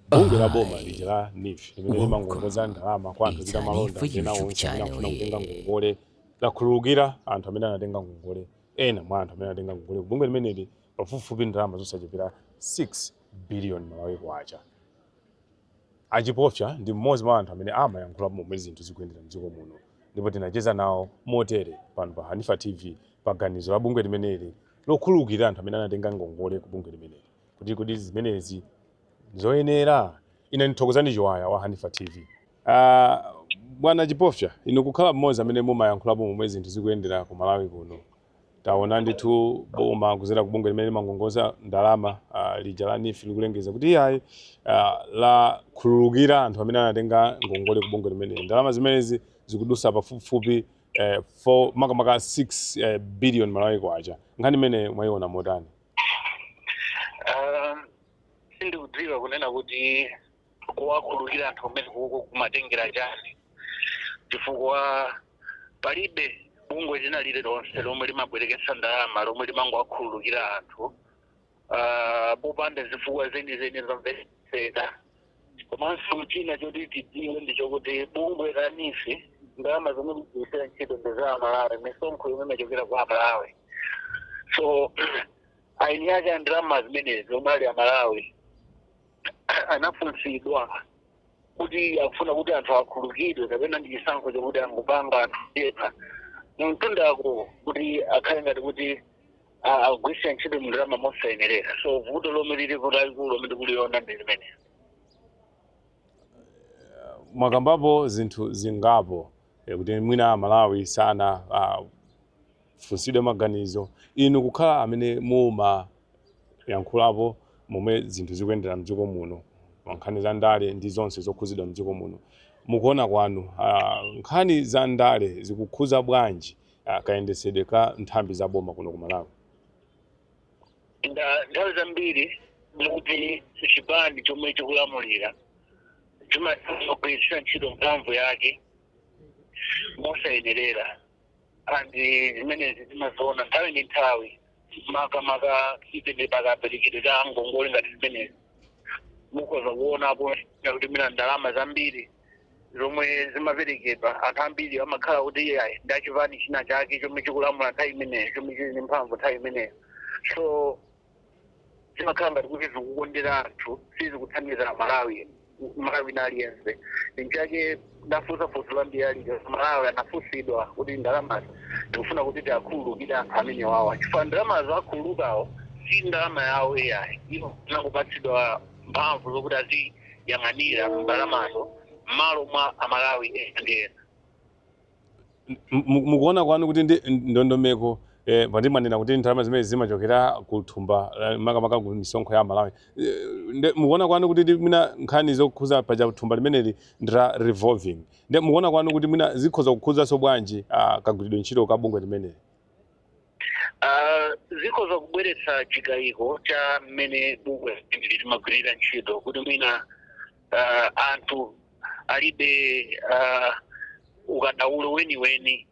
bungwe la boma lija la NEEF limene limangongoza ndalama kwa anthu ochita malonda kapena onse amene akufuna kutenga ngongole lakhululukira anthu amene anatenga ngongole ena mwa anthu amene anatenga ngongole bungwe limeneli pafupifupi ndalama zosachepera 6 billion malawi kwacha a Chipofya ndi mmodzi mwa anthu amene amayankhula momwe zinthu zikuyendera mdziko muno ndipo tinacheza nawo motere pano pa hanifa tv pa ganizo la bungwe limeneli lokhululukira anthu amene anatenga ngongole ku bungwe limeneli Kodi kodi zimenezi nzoyenera? Ine ndi Thokozani Chiwaya wa Hanifa TV. Aaa bwana Chipofya inu kukhala mmodzi amene mumayankhulapo momwe zinthu zikuyendera ku Malawi kuno. Taona ndithu boma kudzera ku bungwe limene limangongoza ndalama ah, lija la NEEF likulengeza kuti iyayi ah, lakhululukira anthu amene anatenga ngongole ku bungwe limeneli. Ndalama zimenezi zikudutsa pafupifupi eh, 4 makamaka 6 eh, billion Malawi kwacha. Nkhani imene mwayiona motani? Um, sindikudziwa kunena kuti kuwakhululukira anthu kumeneko kumatengera chani chifukwa palibe bungwe lina lililonse lomwe limabwereketsa ndalama lomwe limangowakhululukira anthu uh, popanda zifukwa zenizeni zomvetseka komanso china choti tidziwe ndi chokuti bungwe la NEEF ndalama zomwe likugwiritsira ntchito ndi za amalawi misonkho yomwe imachokera kwa amalawi so eni ake a ndalama zimenezi omwe ali amalawi anafunsidwa kuti akufuna kuti anthu akhululukidwe kapena ndi chisankho chokuti angopanga anthu ena mumtundako kuti akhale ngati kuti a- akugwiritsa ntchito ndalama mosayenerera so vuto lomwe lilipo lalikulu lomwe tikuliona ndi limenelo mwakambapo zinthu zingapo eh, kuti mwina amalawi sana ah, funsidwe maganizo inu kukhala amene mumayankhulapo momwe zinthu zikuyendera mdziko muno pa nkhani za ndale ndi zonse zokhuzidwa mdziko muno mukuona kwanu ah, nkhani za ndale zikukhuza bwanji ah, kayendetsedwe ka nthambi za boma kuno ku malawi nda- nthawi zambiri ndikuti chipani chomwe chikulamulira chimagwiritsa ntchito mphamvu yake mosayenerera and zimenezi timaziona nthawi ndi nthawi makamaka tinene pakaperekedwe ka ngongole ngati zimenezi mukhoza kuonapo kuti mwina ndalama zambiri zomwe zimaperekedwa anthu ambiri amakhala kuti iyayi ndi achipani china chake chomwe chikulamula nthawi imeneyo chomwe chili ndi mphamvu nthawi imeneyo so zimakhala ngati kuti zikukondera anthu sizikuthandiza amalawi Mmalawi wina aliyense nchake ndafunsa funso lambiri ali amalawi anafunsidwa kuti ndalamazi ndikufuna kuti tiwakhululukire anthu amenewawa chifukwa ndalamazo akhululukawo si ndalama yawo iyayi iwo anangopatsidwa mphamvu zokuti aziyang'anira ndalamazo mmalo mwa amalawi ena ndi ena M- mu- mukuona kwanu kuti ndi ndondomeko eh, paja timanena kuti ndalama zimene zimachokera ku thumba la- makamaka ku misonkho ya amalawi Eh, nde mukuona kwanu kuti ndi mwina nkhani zokhuza paja thumba limeneli ndi la revolving nde mukuona kwanu kuti mwina zikhoza kukhuzanso bwanji ah, kagwiridwe ntchito ka bungwe limeneli Ah, zikhoza kubweretsa chikayiko cha mmene bungwe limeneli limagwirira ntchito kuti mwina ah, anthu alibe ah, ukadaulo weniweni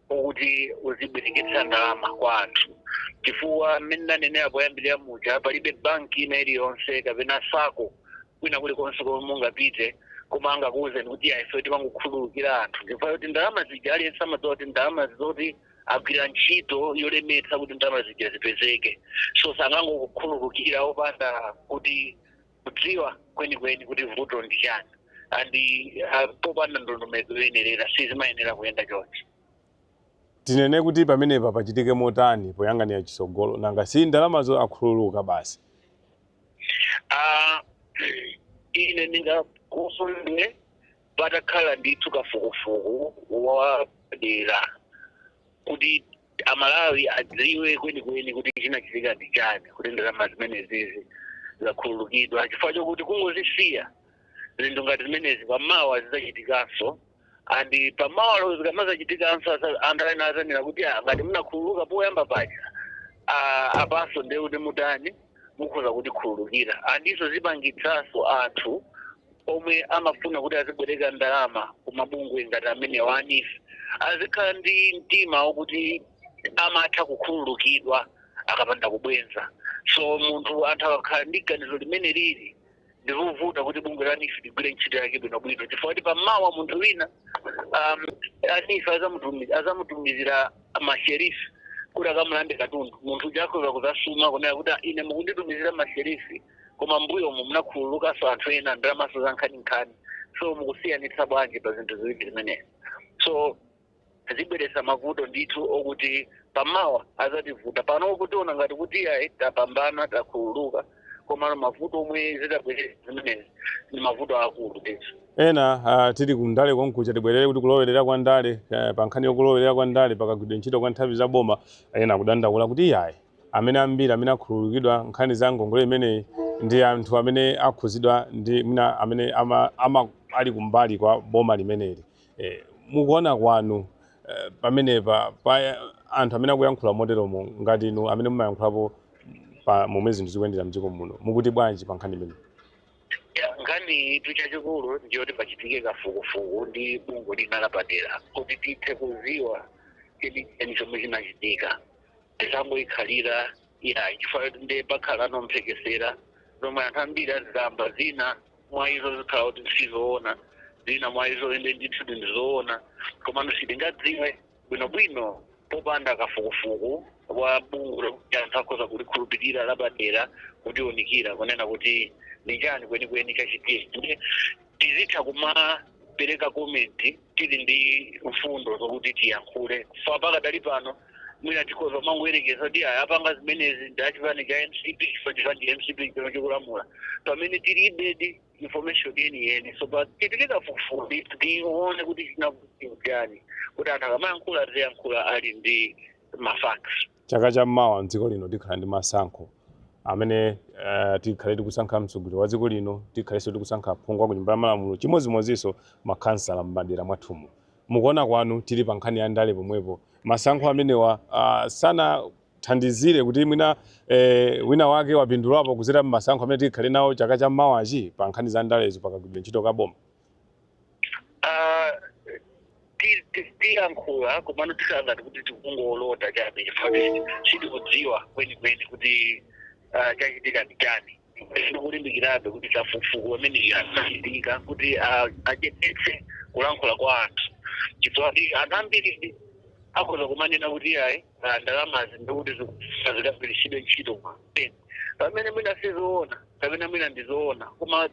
wokuti uzibwereketsa ndalama kwa anthu chifukwa mmene nanenera poyambirira muja palibe banki ina iliyonse kapena sako kwina kulikonse komwe mungapite koma angakuwuzeni kuti ayi ife timangokhululukira anthu chifukwa kuti ndalama zija aliyense amadziwa kuti ndalama zoti agwira ntchito yolemetsa kuti ndalama zija zipezeke so sangangokukhululukira opanda kuti kudziwa kwenikweni kuti vuto ndi chani and ah, popanda ndondomeko yoyenerera sizimayenera kuyenda chonchi tinene kuti pamenepa pachitike motani poyang'anira chitsogolo nanga si ndalamazo akhululuka basi Ah, ine ndingakondwere patakhala ndithu kafukufuku wapadera kuti amalawi adziwe kwenikweni kuti chinachitika ndi chani kuti ndalama zimenezizi zakhululukidwa chifukwa chokuti kungozisiya zinthu ngati zimenezi pamawa zidzachitikanso and pamawa lero zikamazachitikanso asa- anthu ena adzanena kuti "Ah, ngati munakhululuka poyamba paja ah, apanso ndiye kuti mutani mukhoza kutikhululukira and izo zipangitsanso anthu omwe amafuna kuti azibwereka ndalama kumabungwe ngati amenewa a NEEF azikhala ndi mtima wokuti amatha kukhululukidwa akapanda kubwenza so munthu anthu akakhala ndi ganizo limenelili ndizovuta kuti bungwe la NEEF ligwire ntchito yake bwinobwino chifukwa kuti pammawa munthu wina um, a NEEF azamutumi- azamutumizira masherifi kuti akamulande katundu munthu uja akhoza kuzasuma kunena kuti "Ah, ine mukunditumizira masherifi koma mbuyomu munakhululukanso anthu ena ndalamanso zankhaninkhani so mukusiyanitsa bwanji pa zinthu ziwiri zimenezi so zibweretsa mavuto ndithu okuti pamawa azativuta pano kutiona ngati kuti iyayi tapambana takhululuka komano mavuto omwe zitabweretse zimenezi ndi mavuto akulu ndithu ena uh, tili ku ndale konkuja tibwerere kuti kulowerera kwa ndale uh, pa nkhani yokulowerera kwa ndale pakagwidwe ntchito kwa nthambi za boma ena kudandaula kuti iyayi amene ambiri amene akhululukidwa nkhani za ngongole imeneyi ndi anthu amene akhuzidwa ndi mwina amene ama, ama ali kumbali kwa boma limeneli Eh, mukuona kwanu eh, pamenepa pa eh, anthu amene akuyankhula moteromo ngati inu amene mumayankhulapo momwe zinthu zikuyendera mdziko muno mukuti bwanji pa nkhani imeneyi Ya, nkhani tu chachikulu nchoti pachitike kafukufuku ndi bungwe lina lapadera kuti tithe kuziwa chenicheni chomwe chinachitika tisangoyikhalira ya chifukwa choti nde pakhala manong'onong'o zomwe anthu ambiri azikamba zina mwa izo zikhala kuti sizoona zina mwa izo inde ndithu ndi zoona komano sitingadziwe bwinobwino popanda kafukufuku wa bungwe lokuti anthu akhoza kulikhulupirira lapadera kutiunikira kunena kuti ndi chani kwenikweni chachitika tizitha kumapereka komenti tili ndi mfundo zokuti tiyankhule sa pakadali pano mwina tikhoza kumangoyerekeza kuti aya apanga zimenezi ndi achipani cha mcp chifukwa chipani cha mcp chikulamula pamene tilibedi information yeniyeni so pachitike kafukufuku tione kuti chinachitika chani kuti anthu akamayankhula aziyankhula ali ndi mafacts Chaka cha mawa mdziko lino tikhala ndi masankho amene uh, tikhale tikusankha mtsogoleri wa dziko lino, tikhalenso tikusankha aphungu ku nyumba ya malamulo, chimodzimodzinso makhansala m'madera mwathumu. Mukuona kwanu tili pa nkhani ya ndale pomwepo, masankho amenewa uh, sanathandizire kuti mwina eh, wina wake wapindulapo kuzera mmasankho amene tikhale nawo chaka cha mawachi pa nkhani za ndalezo pakagwidwe ntchito kaboma Ah, ti- ti- tiyankhula komano tikhala ngati kuti tikungolota chabe chifukwa sitikudziwa kwenikweni kuti ah, chachitika ndi chani tikulimbikirabe kuti kafukufuku ameneyi achitike kuti ah, achepetse kulankhula kwa anthu chifukwa kuti anthu ambiri akhoza kumanena kuti ayi ah, ndalamazi ndikuti zikagwiritsidwe ntchito pamene mwina sizoona kapena mwina ndizoona koma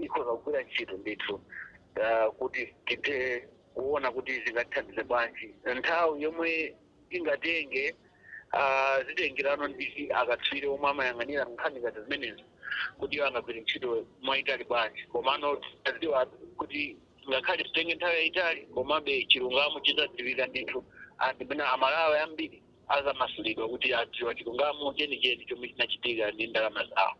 ikhoza kugwira ntchito ndithu ah, kuti tithe kuona kuti zingatithandize bwanji nthawi yomwe ingatenge ah, zitengerano ndi akatswiri omwe amayang'anira nkhani ngati zimenezi kuti iwo angagwire ntchito mwayitali bwanji komano tadziwa kuti ngakhale zitenge nthawi yayitali komabe chilungamo chizadziwika ndithu anthu amene amalawi ambiri azamasulidwa kuti adziwa chilungamo chenicheni chomwe chinachitika ndi ndalama zawo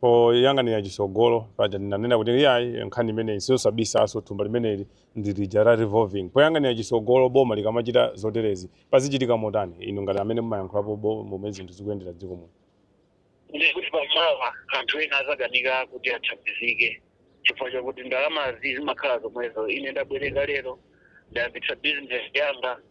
Poyang'anira chitsogolo, paja ndinanena kuti iyayi nkhani imeneyi siyosabisanso, thumba limeneli ndi lija la revolving. Poyang'anira chitsogolo boma likamachita zoterezi, pazichitika motani inu ngati amene mumayankhulapo bo momwe zinthu zikuyendera m'dziko muno? ndiye kuti pamawa anthu ena azikanika kuti athandizike chifukwa chakuti ndalamazi zimakhala zomwezo. Ine ndabwereka lero, ndayambitsa bizinesi yanga.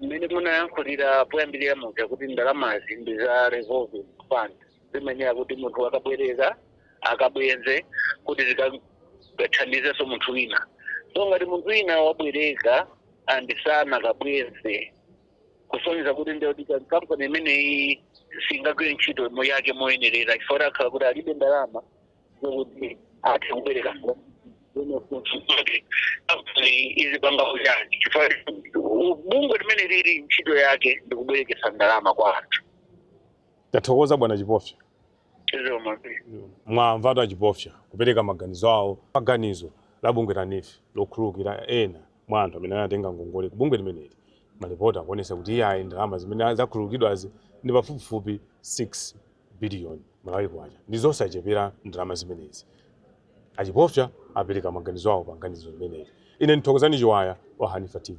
mmene munayankhulira poyambirira muja kuti ndalamazi ndi za revolving fund zimayenera kuti munthu akabwereka akabweze kuti zikathandizenso munthu wina so ngati munthu wina wabwereka and sanakabweze kusonyeza kuti ndiye kuti kampani imeneyi singagwire ntchito yake moyenerera chifukwa akhala kuti alibe ndalama kuti athe kubwereka kuno kuti kuti kuti izipanga ujeni chifukwa bungwe limeneli ntchito yake ndi kubwerekesa ndalama kwa anthu tathokoza bwana Chipofya izo mapiri mwamvatu a Chipofya kupereka maganizo awo pa ganizo la bungwe la NEEF lokhululukira ena mwa anthu amene anatenga ngongole ku bungwe limeneli malipoti akuonesa kuti iyayi ndalama zimene zakhululukidwazi ndi pafupifupi 6 biliyoni Malawi kwacha ndi zosachepera ndalama zimenezi. A Chipofya apereka maganizo awo pa nkhani imeneyi. Ine ndi Thokozani Chiwaya wa Hanifa TV.